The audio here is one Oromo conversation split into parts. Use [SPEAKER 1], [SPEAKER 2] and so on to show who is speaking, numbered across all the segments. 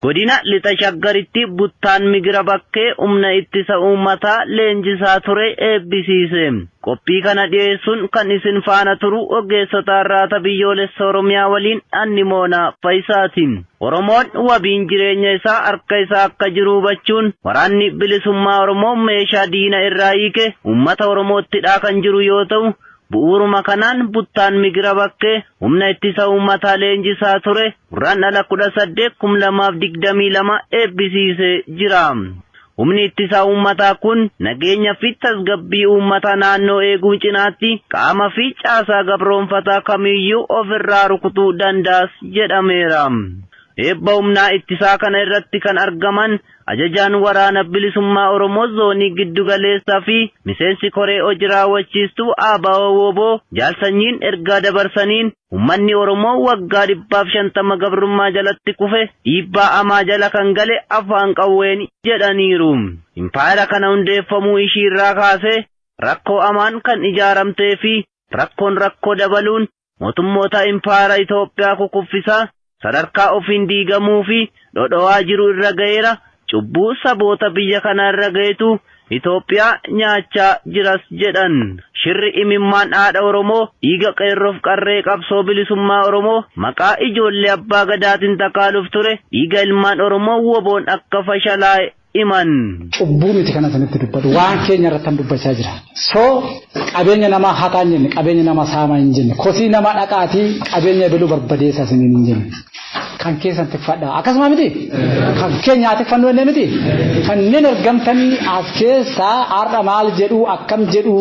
[SPEAKER 1] Godina Lixa Shaggaritti Buttaan Migira Bakkee Humna Ittisa Uummataa leenjisaa ture eebbisiise. Qophii kana dhiyeessuun kan isin faana turu Ogeessota Arraata Biyyoolessa Oromiyaa waliin an Nimoonaa Fayisaati. Oromoon wabiin jireenya isaa harka isaa akka jiru hubachuun Waraanni Bilisummaa Oromoo meeshaa diina irraa hiike uummata Oromootti hidhaa kan jiru yoo ta'u, Bu'uuruma kanaan Buttaan Migira Bakkee Humna Ittisa Uummataa leenjisaa ture Gurraandhala 18,2022 eebbisiisee jira. Humni Ittisa Uummataa kun nageenya fi tasgabbii uummata naannoo eeguu cinaatti qaama fi caasaa gabroomfataa kamiiyyuu of irraa rukutuu danda'as jedhameera. Eebba humnaa ittisaa kana irratti kan argaman Ajajaan Waraana Bilisummaa Oromoo Zoonii Giddu Galeessaa fi Miseensi Koree Hoji Raawwachiistuu ABO-WBO Jaal Sanyiin ergaa dabarsaniin, Ummanni Oromoo waggaa 150 gabrummaa jalatti kufe dhiibbaa hamaa jala kan gale afaan qawweeni jedhaniiru. Impaayera kana hundeeffamuu ishiirraa kaasee rakkoo hamaan kan ijaaramtee fi rakkoon rakkoo dabaluun Mootummoota Impaayera Itoophiyaa kukuffisaa, sadarkaa ofiin diigamuu fi dhodhowaa jiru irra gaheera, cubbuu saboota biyya kanaa irra gahetu Itoophiyaa nyaachaa jiras jedhan. Shirri imimmaan haadha Oromoo, dhiiga qeerroof qarree qabsoo bilisummaa Oromoo maqaa ijoollee Abbaa Gadaatin takaaluuf ture, dhiiga ilmaan Oromoo woboon akka fashalaa'e iman. cubbuu miti kana
[SPEAKER 2] isinitti dubbadhu waan keenya irratti kan dubbachaa jira so qabeenya namaa hataa hin jenne qabeenya namaa saamaa hin jenne kosii namaa dhaqaatii qabeenya ebaluu barbadeessa isiniin hin jenne kan keessan tiffadha akkasuma miti kan keenya haa tiffannu jennee miti kanneen argamtanii as keessaa har'a maal jedhu akkam jedhu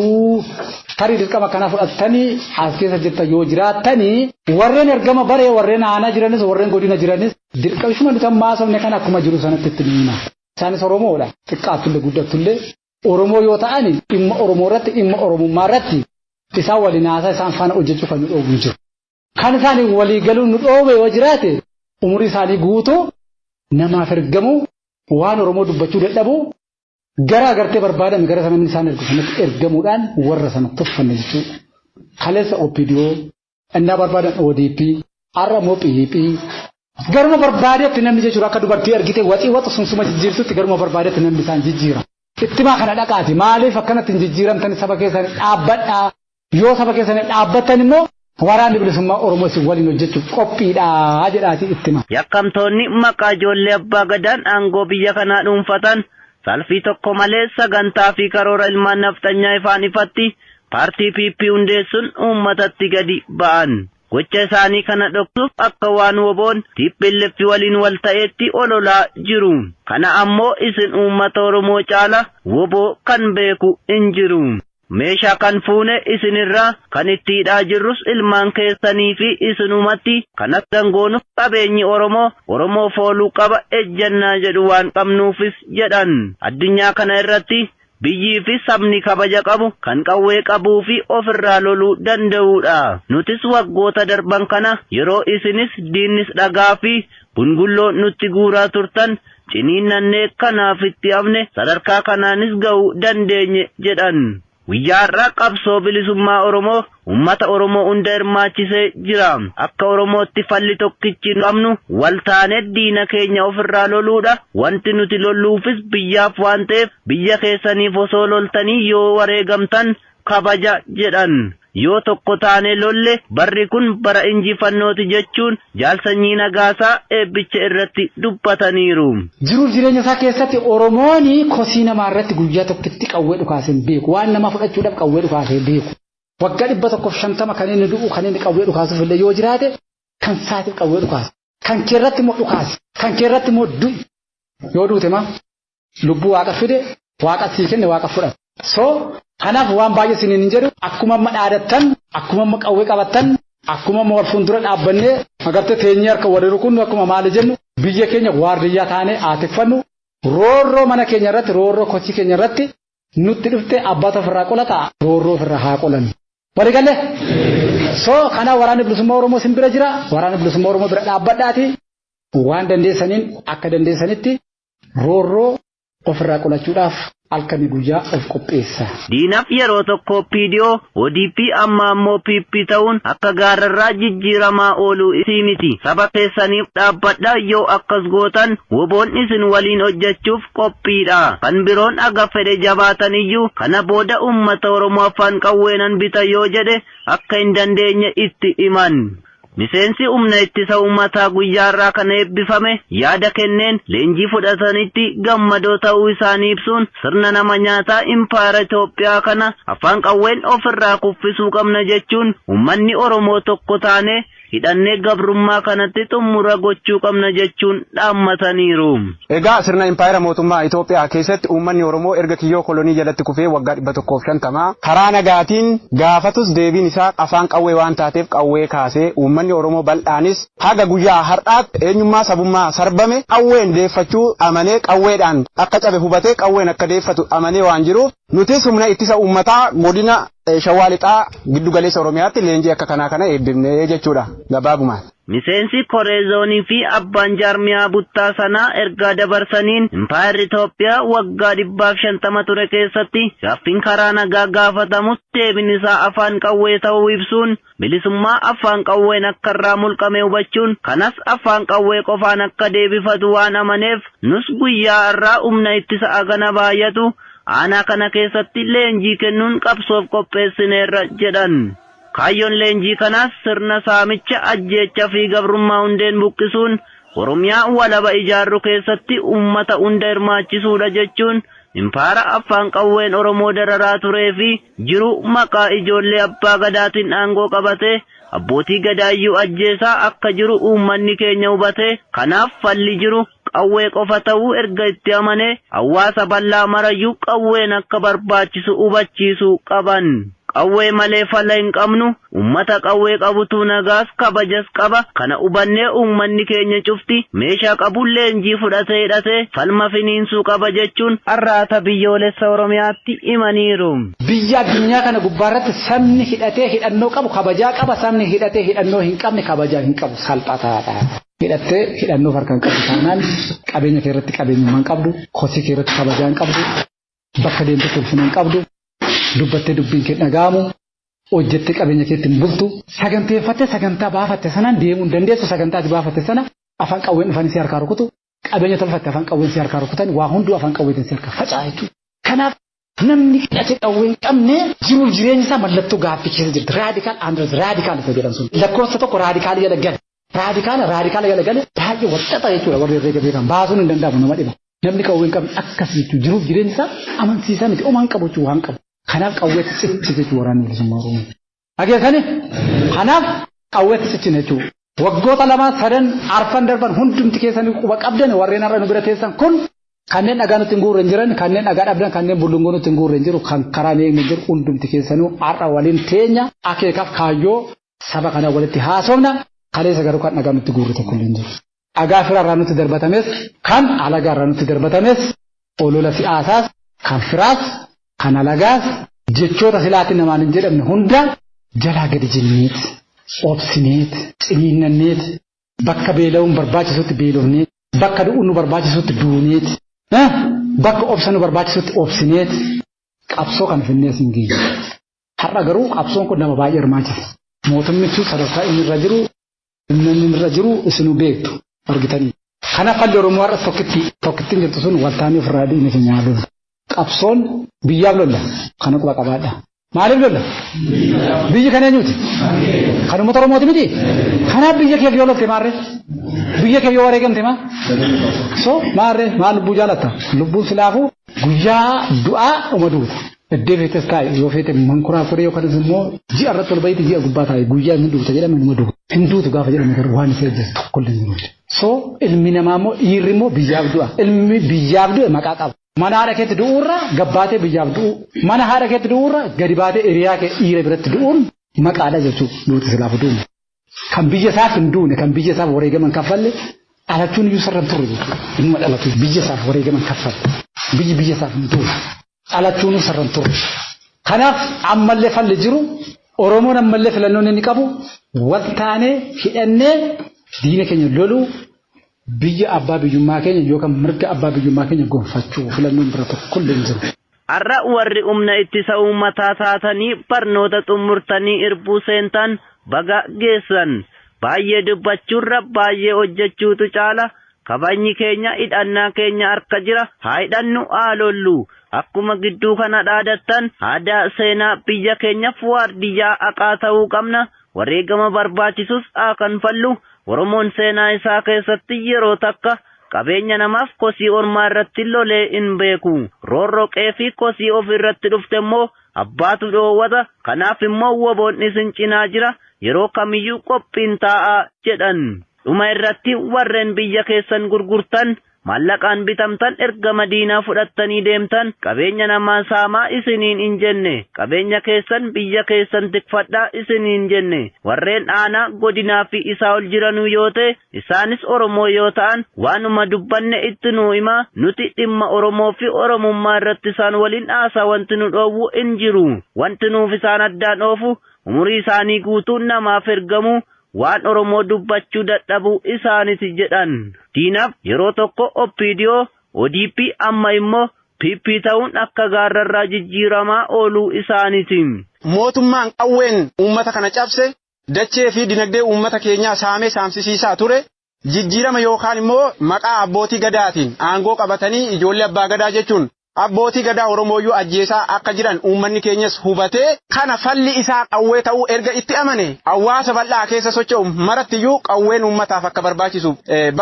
[SPEAKER 2] tarii dirqama kana fudhattanii as keessa jirtan yoo jiraattanii warreen ergama baree warreen aanaa jiranis warreen godina jiranis Dirqamshuma nuti amma haasofne kana akkuma jiru sanatti itti ni hima. Isaanis Oromoodha. Xiqqaattullee guddattullee Oromoo yoo ta'an dhimma Oromoo irratti dhimma Oromummaa irratti isaan waliin haasaa isaan faana hojjechuu kan nu dhoobu hin jiru. Kan isaaniif walii galuun nu dhoobe yoo jiraate umurii isaanii guutuu namaaf ergamuu waan Oromoo dubbachuu dadhabuu gara agartee barbaadame gara sana isaan ergu sanatti ergamuudhaan warra sana tuffanne jechuudha. Kaleessa OPDO Ennaa barbaadan ODP, har'a immoo PhP. Garuma barbaadetti namni jechuudha akka dubartii argite waxii waxu sun suma jijjiirtutti garuma barbaadetti namni isaan jijjiira. Ittimaa kana dhaqaati maaliif akkanatti hin jijjiiramtani saba keessan dhaabbadhaa yoo saba keessan dhaabbattan immoo waraanni bilisummaa Oromoo isin waliin hojjechuuf qophiidhaa jedhaatii ittima. Yakkamtoonni maqaa
[SPEAKER 1] ijoollee abbaa gadaan aangoo biyya kanaa dhuunfatan salfii tokko malee sagantaa fi karoora ilmaan nafxanyaa ifaan ifatti Paartii PP hundeessuun uummatatti gadi ba'an. Gocha isaanii kana dhoksuuf akka waan wbo'n tplf waliin wal ta'eetti ololaa jiru. Kana ammoo isin uummata Oromoo caala wbo kan beeku hin jiru. Meeshaa kan fuune isin irraa, kan itti hidhaa jirrus ilmaan keessanii fi isinumatti, kan akkan goonuuf qabeenyi Oromoo, Oromoof ooluu qaba ejjannaa jedhu waan qabnuufis jedhan. Addunyaa kana irratti Biyyii fi sabni kabaja qabu, kan qawwee qabuu fi of irraa loluu danda'uu dha. Nutis waggoota darban kana yeroo isinis diinnis dhagaa fi gungulloo nutti guuraa turtan ciniinnannee kanaaf itti hafne sadarkaa kanaanis ga'uu dandeenye jedhan. Guyyaa har'aa qabsoo bilisummaa Oromoo Ummata Oromoo hunda hirmaachisee jira. Akka Oromootti falli tokkichi qabnu wal taanee diina keenya of irraa loluudha. Wanti nuti lolluufis biyyaaf waan ta'eef biyya keessaniif osoo loltanii yoo wareegamtan kabaja jedhan. Yoo tokko taanee lolle barri kun bara injifannooti jechuun Jaal Sanyii Nagaasaa eebbicha irratti dubbataniiru. Jiruuf jireenya
[SPEAKER 2] isaa keessatti Oromoon kosii namaa irratti guyyaa tokkitti qawwee dhukaasee hin beeku. Waan namaa fudhachuudhaaf qawwee dhukaasee hin beeku. Waggaa dhibba tokkoof shantama kan inni du'u kan inni qawwee dhukaasuuf illee yoo jiraate kan saatiif qawwee dhukaasa. Kan kee irratti immoo dhukaasi. Kan kee irratti immoo du'i. Yoo duute maa lubbuu waaqa fide waaqa sii kenne waaqa fudhata. So kanaaf waan baay'ee isiniin hin jedhu akkuma amma dhaadattan akkuma amma qawwee qabattan akkuma amma wal fuuldura dhaabbannee agartee teenyee harka wal rukunnu akkuma maali jennu biyya keenya waardiyyaa taanee haa tikfannu roorroo mana keenya irratti roorroo kochii keenya irratti Nutti dhufte abbaatu ofirraa qolata roorroo ofirraa haa qolanu. Walii galle? So kana waraanni bilisummaa Oromoo sin bira jira waraanni bilisummaa Oromoo bira dhaabbadhaati waan dandeessaniin akka dandeessanitti roorroo ofirraa qolachuudhaaf halkanii guyyaa of qopheessa. Diinaf yeroo
[SPEAKER 1] tokko OPDO, ODP amma ammoo PP ta'uun akka gaarrarraa jijjiiramaa ooluu isii miti. Saba keessaniif dhaabbadhaa yoo akkas gootan WBOn isin waliin hojjechuuf qophiidha. Kan biroon haga fedhe jabaataniyyuu kana booda uummata Oromoo afaan qawwee nan bita yoo jedhe akka hin dandeenye itti himan. Miseensi Humna Ittisa Uummataa guyyaa har'aa kana eebbifame yaada kenneen leenjii fudhatanitti gammadoo ta'uu isaanii ibsuun sirna nama nyaataa impaayera Itoophiyaa kana afaan qawween ofirraa kuffisuu qabna jechuun uummanni Oromoo tokko taanee hidhannee gabrummaa kanatti xummura gochuu qabna jechuun dhaammataniiru. Egaa sirna
[SPEAKER 3] impaayera mootummaa Itoophiyaa keessatti uummanni Oromoo erga kiyyoo kolonii jalatti kufee waggaa 150 karaa nagaatiin gaafatus deebiin isaa afaan qawwee waan taateef qawwee kaasee uummanni Oromoo bal'aanis haga guyyaa har'aatti eenyummaa sabummaa sarbame qawween deeffachuu amanee qawweedhaan akka cabe hubatee qawween akka deeffatu amanee waan jiruuf nutis humna ittisa uummataa godina Shawaa Lixaa giddu galeessa Oromiyaatti leenjii akka kanaa kana eebbifne jechuudha gabaabumaan. Miseensi koree
[SPEAKER 1] zoonii fi abbaan jaarmiyaa buttaa sanaa ergaa dabarsaniin, impaayerri Itoophiyaa waggaa dhibbaa fi shantama ture keessatti gaaffiin karaa nagaa gaafatamus deebiin isaa afaan qawwee ta'uu ibsuun, bilisummaa affaan qawween akka irraa mulqame hubachuun kanas affaan qawwee qofaan akka deebifatu waan amaneef nus guyyaa arraa umna ittisa agana baayatu aanaa kana keessatti leenjii kennuun qabsoof qopheessineerra jedhan. Kaayyoon leenjii kanaas sirna saamicha, ajjeecha fi gabrummaa hundeen buqqisuun Oromiyaa walaba ijaarru keessatti ummata hunda hirmaachisuudha jechuun Impaayera Affaan qawween Oromoo dararaa turee fi jiru maqaa ijoollee Abbaa Gadaatiin aangoo qabatee Abbootii Gadaayyuu ajjeesaa akka jiru uummanni keenya hubatee kanaaf falli jiru qawwee qofa ta'uu erga itti amanee hawwaasa bal'aa marayyuu qawween akka barbaachisu hubachiisuu qaban. Qawwee malee fala hin qabnu, ummata qawwee qabutu nagaas kabajas qaba, kana ubannee uummanni keenya cufti meeshaa qabuun leenjii fudhatee hidhatee falma finiinsuu qaba jechuun Arraata Biyyoolessa Oromiyaatti himaniiru. Biyya addunyaa
[SPEAKER 2] kana gubbaarratti sabni hidhatee hidhannoo qabu kabajaa qaba, sabni hidhatee hidhannoo hin qabne kabajaa hin qabu, salphataadha. Hidhattee hidhannoo of harkaa hin qabdu taanaan qabeenya keerratti qabeenyummaa hin qabdu, kosii keerratti kabajaa hin qabdu, Bakka deemtetti ulfina hin qabdu. Dubbattee dubbiin kee dhaga'amu. Hojjettee qabeenya keetti hin bultu. Saganteeffattee sagantaa baafatte sanaan deemuu hin dandeessu. Sagantaa ati baafatte sana afaan qawween dhufanii si harkaa rukutu. Qabeenya tolfatte afaan qawween si harkaa rukutan waa hunduu afaan qawweetiin si harkaa faca'a jechuudha. Kanaaf namni hidhate qawwee hin qabne jiruuf jireenyi isaa mallattoo gaaffii keessa jirti. Raadikaal Andres raadikaal isa jedhan sun. Lakkoofsa tokko raadikaalii jala gad. Raadikaala raadikaala jala gale baay'ee walxaxaa jechuudha warri herreega beekan baasuun hin danda'amu nama dhiba. Namni qawwee hin qabne akkas jechuun jiruuf jireenyi isaa amansiisaa miti omaan qabu jechuun waan qabu. Kanaaf qawweetti cichite jechuun waraanni bilisummaa Oromoo. Dhageessanii? Kanaaf qawweetti cichine jechuudha. Waggoota lamaa sadan arfan darban hundumti keessanii quba qabdan warreen har'a nu bira teessan kun kanneen dhagaa nutti hin guurre hin jiran kanneen dhagaa dhabdan kanneen bullungoo nutti hin guurre hin jiru kan karaa hin eegne jiru hundumti keessanuu har'a waliin teenya akeekaaf kaayyoo Saba kana walitti haasofna, kaleessa garuu kan dhagaa nutti guurre tokkollee hin jiru. Dhagaa fira irraa nutti darbatames, kan alagaa irraa nutti darbatames, olola si'aasaas, kan firaas, kan alagaas, jechoota silaa ati namaan hin jedhamne hunda jalaa gadi jenneet, obsineet, ciniinnanneet, bakka beela'uun barbaachisutti beelofneet, bakka du'uun nu barbaachisutti duuneet, bakka obsa nu barbaachisutti obsineet qabsoo kana finnee asiin geenye. Har'a garuu qabsoon kun nama baay'ee hirmaachisa. Mootummichi sadarkaa inni irra jiru, humna inni irra jiru isinuu beektu argitanii. Kana falli Oromoo har'as tokkitti tokkittiin jirtu sun waltaanii ofirraa dhiigni keenya haa lollu. Qabsoon biyyaaf lolla. Kana quba qabaadha. Maaliif lolla? Biyyi kan eenyuuti? Kan uummata Oromooti miti? Kanaaf biyya keef yoo lollte maarree? Biyya keef yoo wareegamte maa? So maarree maa lubbuu jaalatta? Lubbuun silaafuu guyyaa du'aa dhuma duuta. Eddee feetes taa'i yoo feete mankuraa koree yookanis immoo ji'a irratti ol ba'iitti ji'a gubbaa taa'i guyyaa inni duuta jedhame numa duuta. Hin duutu gaafa jedhame garuu waan isa eegsisu tokko illee hin jiru. So ilmi namaa immoo dhiirri immoo biyyaaf du'a. Ilmi biyyaaf du'e maqaa qaba. Mana haadha keetti du'uurra gabbaatee biyyaaf du'uu. Mana haadha keetti du'uurra gadi baatee hiriyaa kee dhiira biratti du'uun maqaadha jechuudha. Duuti silaafu du'u. Kan biyya isaaf hin duune, kan biyya isaaf wareegama hin kaffalle dhalachuun iyyuu sarara hin turre jechuudha. Inni dhalatu biyya isaaf wareegama hin kaffalle. Biyyi biyya isaaf hin duune. Dhalachuun sarara hin turre. Kanaaf ammallee falli jiru Oromoon ammallee filannoon inni qabu wal taanee hidhannee diina keenya loluu Biyya abbaa biyyummaa keenya yookan mirga abbaa biyyummaa keenya gonfachuu filannoon biraa tokkollee hin jiru. Har'a
[SPEAKER 1] warri Humna Ittisa Uummataa taatanii barnoota xummurtanii irbuu seentan baga geessan. Baay'ee dubbachuurra baay'ee hojjechuutu caala. Kabajni keenya hidhannaa keenya harka jira. Haa hidhannu, haa lollu. Akkuma gidduu kana dhaadattan aadaa, seenaa biyya keenyaf waardiyyaa haqaa ta'uu qabna. Wareegama barbaachisus haa kanfallu, Oromoon seenaa isaa keessatti yeroo takka qabeenya namaaf kosii ormaa irratti lolee hin beeku. Roorroo qe'ee fi kosii ofii irratti dhufte immoo abbaatu dhoowwata, kanaaf immoo wbo-n isin cinaa jira, yeroo kamiyyuu qophiin taa'aa jedhan. Dhuma irratti warreen biyya keessan gurgurtan Maallaqaan bitamtan erga Madiinaa fudhattanii deemtan qabeenya namaa saamaa isiniin hin jenne, qabeenya keessan biyya keessan tikfadhaa isiniin jenne. Warreen aanaa, godinaa fi isaa ol jiranuu yoo ta'e, isaanis Oromoo yoo ta'an waanuma dubbanne itti nuu hima, nuti dhimma Oromoo fi Oromummaa irratti isaan waliin haasaa wanti nu dhoowwu hin jiru. Wanti nuuf isaan addaan oofu umurii isaanii guutuu namaaf ergamuu, Waan Oromoo dubbachuu dadhabuu isaaniti jedhan. Diinaf yeroo tokko OPDO, ODP amma immoo PP ta'uun akka gaarrarraa jijjiiramaa ooluu isaaniti. Mootummaan
[SPEAKER 3] qawween uummata kana cabse, dachee fi dinagdee uummata keenyaa saamee saamsisiisaa ture, Jijjiirama yookaan immoo maqaa abbootii Gadaatiin aangoo qabatanii ijoollee abbaa Gadaa jechuun abbootii Gadaa Oromooyyuu ajjeesaa akka jiran uummanni keenyas hubatee, kana falli isaa qawwee ta'uu erga itti amanee, hawaasa bal'aa keessa socho'u marattiyyuu qawween uummataaf akka barbaachisu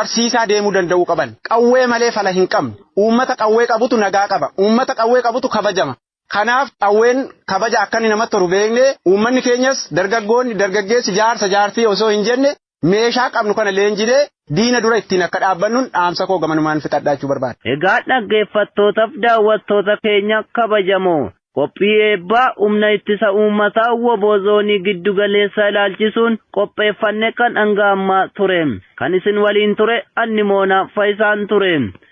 [SPEAKER 3] barsiisaa deemuu danda'uu qaban. Qawwee malee fala hin qabnu. Uummata qawwee qabutu nagaa qaba. Uummata qawwee qabutu kabajama. Kanaaf qawween kabaja akka inni namatti horu beeknee uummanni keenyas dargaggoonni, dargaggeessi, jaarsa, jaartii osoo hin jenne meeshaa qabnu kana leenjinee diina dura ittiin akka dhaabbannun dhaamsa koo gamanumaan fixadha jechuu barbaada. Egaa dhaggeeffattootaf
[SPEAKER 1] daawwattoota keenya kabajamoo, qophii eebbaa Humna Ittisa Uummataa wbo Zoonii Giddu Galeessaa ilaalchisuun qopheeffanne kan hanga ammaa ture. Kan isin waliin ture an Nimoonaa Fayisaan ture.